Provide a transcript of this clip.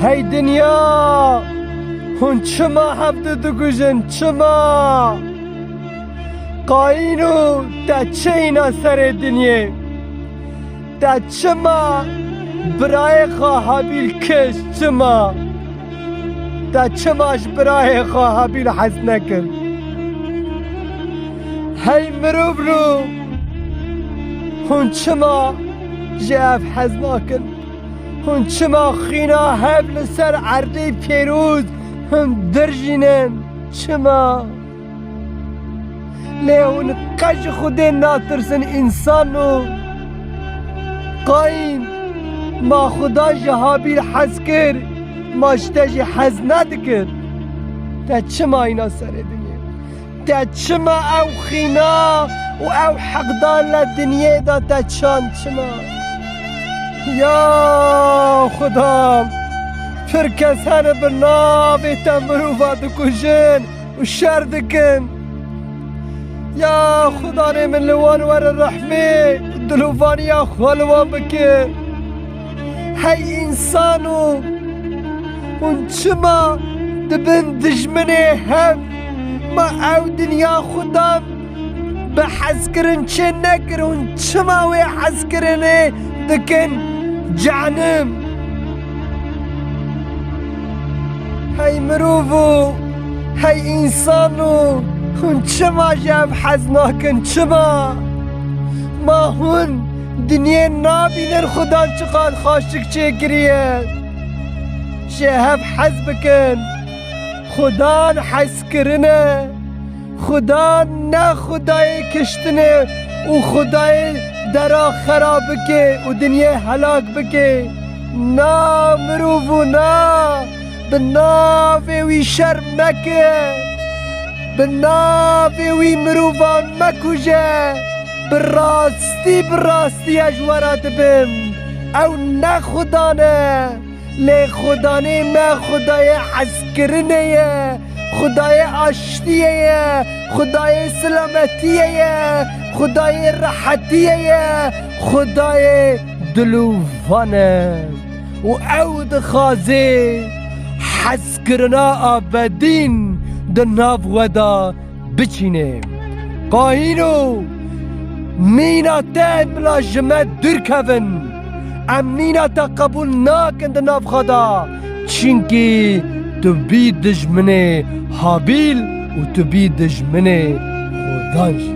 Hey dinya! Hûn çima hevdu dikujin, çima? Qayîn û te çi îna serê dinyê? Te çima birayê xwe Habîl kişt, çima? Te çima ji birayê xwe Habîl hez nekir? Hey mirov rû! Hûn çima ji ev hez nakin? Hûn çima xîna hev li ser erdê pêroz dirjînin? Çima? Lê hûn qet ji Xwedê natirsin însano? Qayîn, ma Xweda ji Habîl hez kir, ma ji te jî hez nedikir? Te çima îna serê dinê? Te çima ew xîna û ew heqdar li dinyê de te çand çima? Ya Xuda! Pir kes hene bi navê te mirovan dikujin û şer dikin. Ya Xuda rê min li wan were rehmê û dilovaniya xwe li wan bike. Hey însan û hûn çima di bin dijminê hev ma ew dinya xwe dan bi hezkirin çê nekir hûn çima wê hezkirinê dikin cenim. Hey mirov û hey însan û hûn çima ji ev hez nakin çima ma hûn Dinyê nabînin xuda çiqad xaşik çêkiriye. Jê hev hez bikin. Xuda hezkirin e. Xuda ne xudayê kiştin e û xudayê dera xera bike û dinyê helak bike. Na mirov û na! Bi navê wî şerm meke, bi navê wî mirovan mekuje, bi rastî bi rastî ez ji we re dibim. Ew ne xudan e, lê xudanê me xudayê hezkirinê ye, xudayê aştiyê ye, xudayê silametiyê ye, xudayê rehetiyê ye, xudayê dilûvan e. û ew dixwaze hezkirina Abedîn di nav we de biçîne. Kahîno, mîna te ên bila ji me dûr kevin. Em mîna te qebûl nakin di nav xwe de, çimkî tu bî dijminê Habîl û tu bî dijminê Xodan jî.